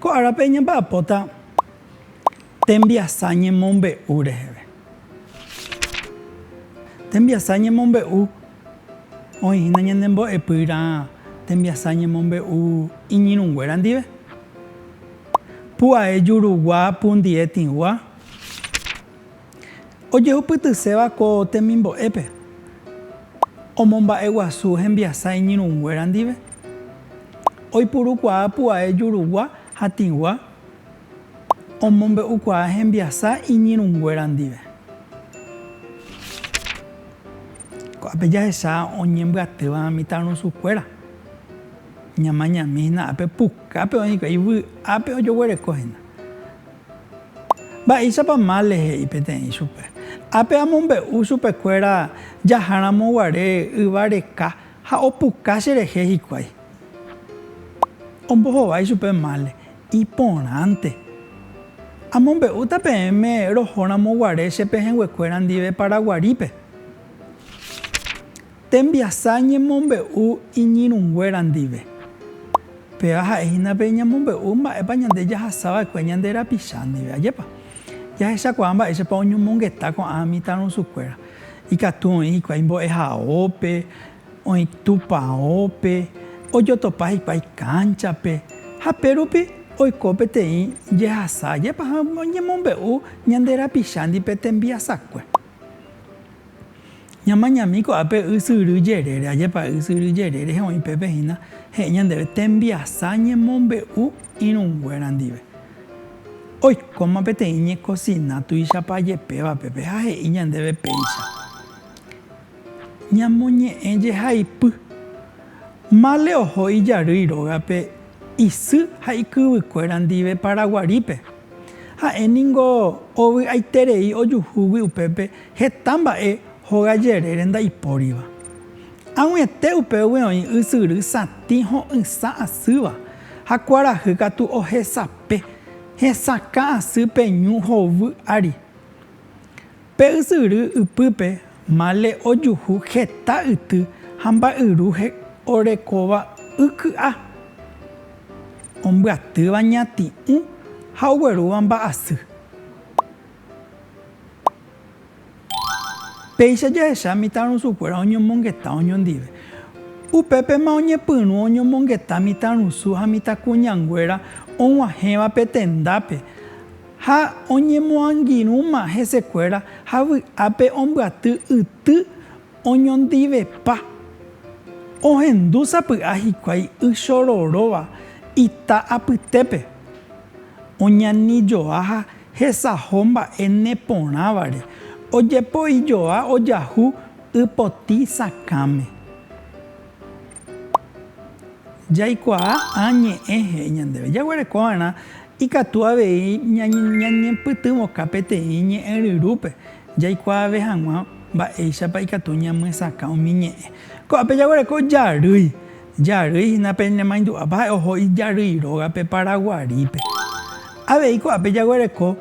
Ko árape ñamba'apóta tembiasa ñemombe'u reheve. Tembiasa ñemombe'u, oĩ hína ñane mbo'epýra tembiasa ñemombe'u iñirũnguéra ndive. Pu'ae jurugua, pundie tĩgua. ojehupytyséva ko temimbo'épe omomba'eguasu hembiasa iñirũnguéra ndive, oipurukuaa pu'ae jurugua ha tĩgua omombe'ukuaa hembiasa iñirũnguéra ndive. Ko'ápe jahecha oñembyatýva mitãrusukuéra, ñamañami hína ápe pukápe oĩkuri vy'ápe ojoguereko hína. Mba'éichapa Male he'i peteĩ chupe. Ápe amombe'u chupekuéra jaháramo guare yva reka ha opuka cherehe hikuái. Ombohovái chupe Male, Iporãnte. Amombe'úta peẽme rohóramo guare che pehẽnguekuéra ndive Paraguarípe. Tembiasa ñemombe'u iñirũnguéra ndive. Péva ha'e hína pe ñamombe'u mba'épa ñande jahasa va'ekue ñande rapicha ndive. Ajépa jahechakuaa mba'éichapa oñomongeta ko'ã mitãrusukuéra. Ikatu oĩ hikuái mbo'ehaópe, oĩ tupaópe, ojotopa hikuái kánchape. Ha pérupi oiko peteĩ jehasa. Ajépa oñemombe'u ñande rapichándi pe tembiasakue. Ñamañami ko'ápe ysyry jerére, ajépa ysyry jerére he'õ'i pépe hína, he'i ñandéve tembiasa ñemombe'u irũnguéra ndive. Oikóma peteĩ ñekosina tuichapa jepéva pépe ha he'i ñandéve péicha, Ñamoñe'ẽ jehaipy, mále oho ijarýi rógape isy ha ikyvykuéra ndive Paraguarípe. Ha'e ningo ovy'aiterei ojuhúgui upépe Heta mba'e hóga jerére ndaipóriva. Ag̃uiete upévagui oĩ ysyry satĩ ho'ysã asýva ha kuarahy katu ohesape hesakã asy pe ñu hovy ári. Pe ysyry ypýpe mále ojuhu heta yty ha mba'yru orekóva y ky'a, ombyatýva ñati'ũ ha oguerúva mba'asy. Péicha jahecha mitãrusukuéra oñomongeta oñondive. Upépema oñepyrũ oñomongeta mitãrusu ha mitãkuñanguéra og̃uahẽva pe tendápe, ha oñemoangirũma hesekuéra ha vy'ápe ombyaty yty Oñondivepa, ohendu sapy'a hikuái y chororóva ita apytépe, oñanijoa ha hesaho mba'e neporãvare, ojepoijoa ojahu y potĩ sakãme. Jaikuaa ã ñe'ẽ he'i ñandéve. Jaguereko va'erã ikatu avei ñañepytyvõka peteĩ ñe'ẽ ryrúpe, jaikuaave hag̃ua mba'éichapa ikatu ñamyesakã umi ñe'ẽ. Ko'ápe jaguereko jarýi. Jarýi hína pe nemaindu'ápa ha'e oho ijarýi rógape Paraguarípe. Avei ko'ápe jaguereko.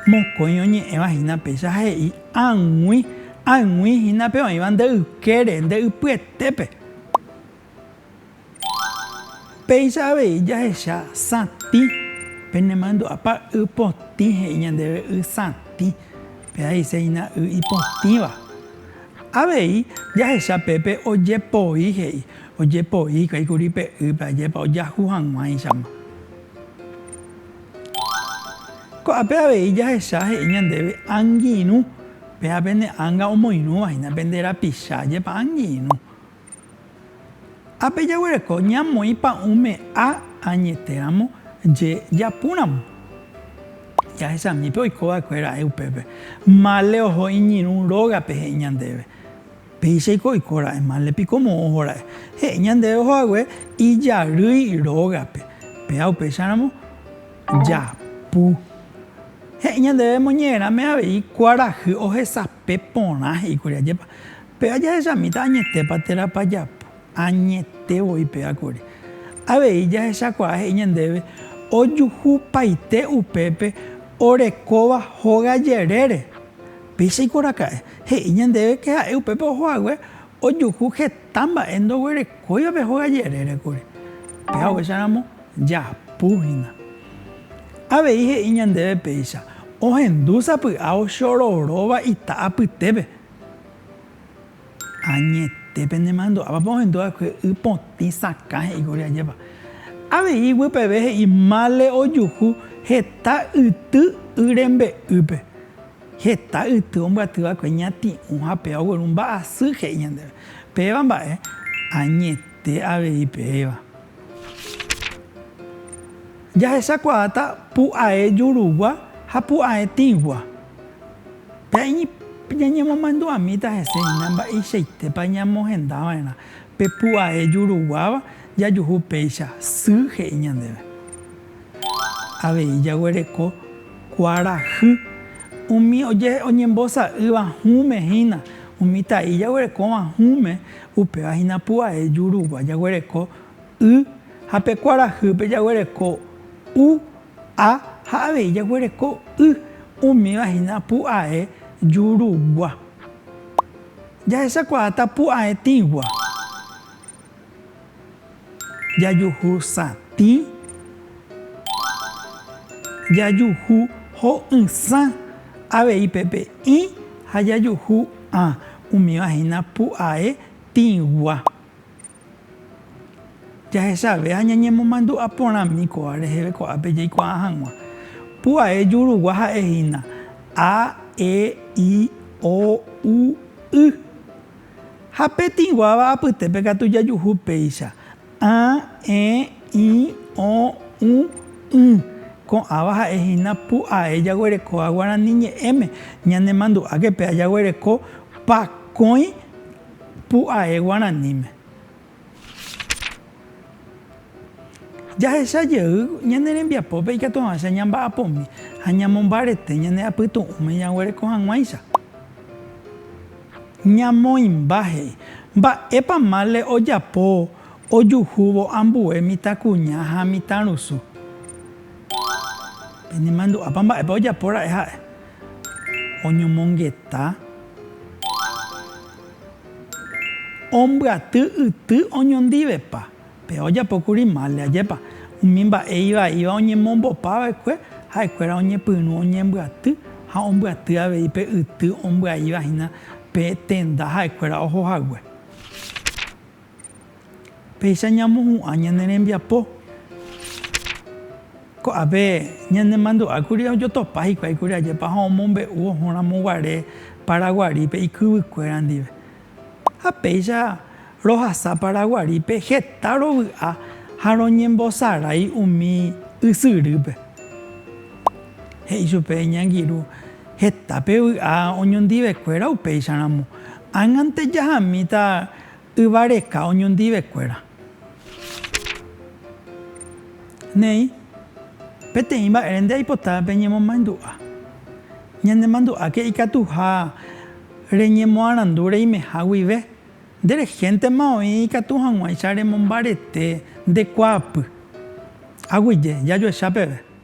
Mokõi oñe'ẽva hína péicha he'i ag̃ui, ag̃ui hína pe oĩva nde ykére, nde ypyetépe. Péicha avei jahecha satĩ, pe ne mandu'ápa y potĩ he'i ñandéve y satĩ, péa he'ise hína y ipotĩva. Avei jahecha pépe ojepoi he'i, ojepoi hikuái kuri pe ýpe ajépa ojahu hag̃uáichama. Ko'ápe avei jahecha he'i ñandéve angirũ, péva pene ánga omoirũva hína pende rapicha jepa angirũ. Ápe jaguereko ñamoĩ pa'ũ me'a añetéramo je japúramo. Jahechamípe oikova'ekuéra'e upépe, male oho iñirũ rógape he'i ñandéve. Péichaiko oiko ra'e, mále piko moõ oho ra'e. He'i ñandéve oho hague ijarýi rógape, péa upéicharamo japu. He'i ñandéve moñe'ẽrãme avei kuarahy ohesape porã, he'i kuri, ajépa, péa jahechamíta añetépa térãpa japu, añete voi péa kuri. Avei jahechakuaa he'i ñandéve ojuhupaite upépe orekóva hóga jerére. Péicha ikuaraka'e, he'i ñandéve ke ha'e upépe oho hague ojuhu heta mba'e ndoguerekóiva pe hóga jerére kuri. Pe haguéicha ramo japu hína. Avei he'i ñandéve péicha ohendu sapy'a ochororóva ita apytépe. Añete pene mandu'áva pe ohendu va'ekue y potĩ sakã he'i kuri ajépa. Avei iguepeve he'i mále ojuhu heta yty y rembe'ýpe. Heta yty ombyaty va'ekue ñati'ũ ha péva ogueru mba'asy he'i ñandéve. Péva mba'e, añete avei péva. Jahechakuaáta pu'ae jurugua ha pu'ae tĩgua. Pe'añi ñañemomandu'amíta hese hína mba'eichaitépa ñamohenda va'erã pe pu'ae juruguáva jajuhu péicha sy he'i ñandéve. Avei jaguereko kuarahy umi oñembosa'ýva hũme hína, umi tai jaguerekóva hũme, upéva hína pu'ae jurugua jaguereko y ha pe kuarahýpe jaguereko u, a ha avei jaguereko y, umíva hína pu'ae jurugua. Jahechakuaáta pu'ae tĩgua. Jajuhu satĩ. Jajuhu ho'ysã avei pepe ĩ ha jajuhu ã. Umíva hína pu'ae tĩgua. Jahechave ha ñañemomandu'a porãmi kóva reheve ko'ápe jaikuaa hag̃ua. Pu'ae jurugua ha'e hína, a, e, i, o, u, y. Ha pe tĩguáva apytépe katu jajuhu péicha, a, e, i, o, u, y. Ko'ãva ha'e hína pu ae jaguerekóva guarani ñe'ẽme. Ñanemandu'áke pe a jaguereko pakõi pu ae guaraníme. Jahecha jey ñane rembiapópe ikatuavãicha ñamba'apomi ha ñamombarete ñane apytu'ũme ñaguereko hag̃uáicha. Ñamoĩmba he'i, Mba'épa mále ojapo ojuhúvo ambue mitãkuña ha mitãrusu? Penemandu'ápa mba'épa ojapo ra'e ha'e? Oñomongeta. Ombyaty yty oñondivepa, pe ojapókuri málde, ajépa, umi mba'e ivaíva oñemombopa va'ekue ha'ekuéra oñepyrũ oñembyaty ha ombyaty avei pe yty ombyaíva hína pe tenda ha'ekuéra oho hague. Péicha ñamohu'ã ñane rembiapo. Ko'ápe ñanemandu'ákuri ojotopa hikuái kuri ajépa ha omombe'u ohóramo guare Paraguarípe ikyvykuéra ndive. Ha péicha rohasa Paraguarípe heta rovy'a ha roñembosarái umi ysyrýpe. He'i chupe iñangirũ, Heta pe vy'a oñondivekuéra upéicharamo. Ág̃ante jahamíta. Yva reka oñondivekuéra. Néi, peteĩ mba'ére nde aipota peñemomaendu'a. Ñanemandu'áke ikatuha reñemoarandu reimeha guive, nde rehéntema oĩ ikatu hag̃uáicha remombarete nde kuaapy. Aguyje, jajoecha peve.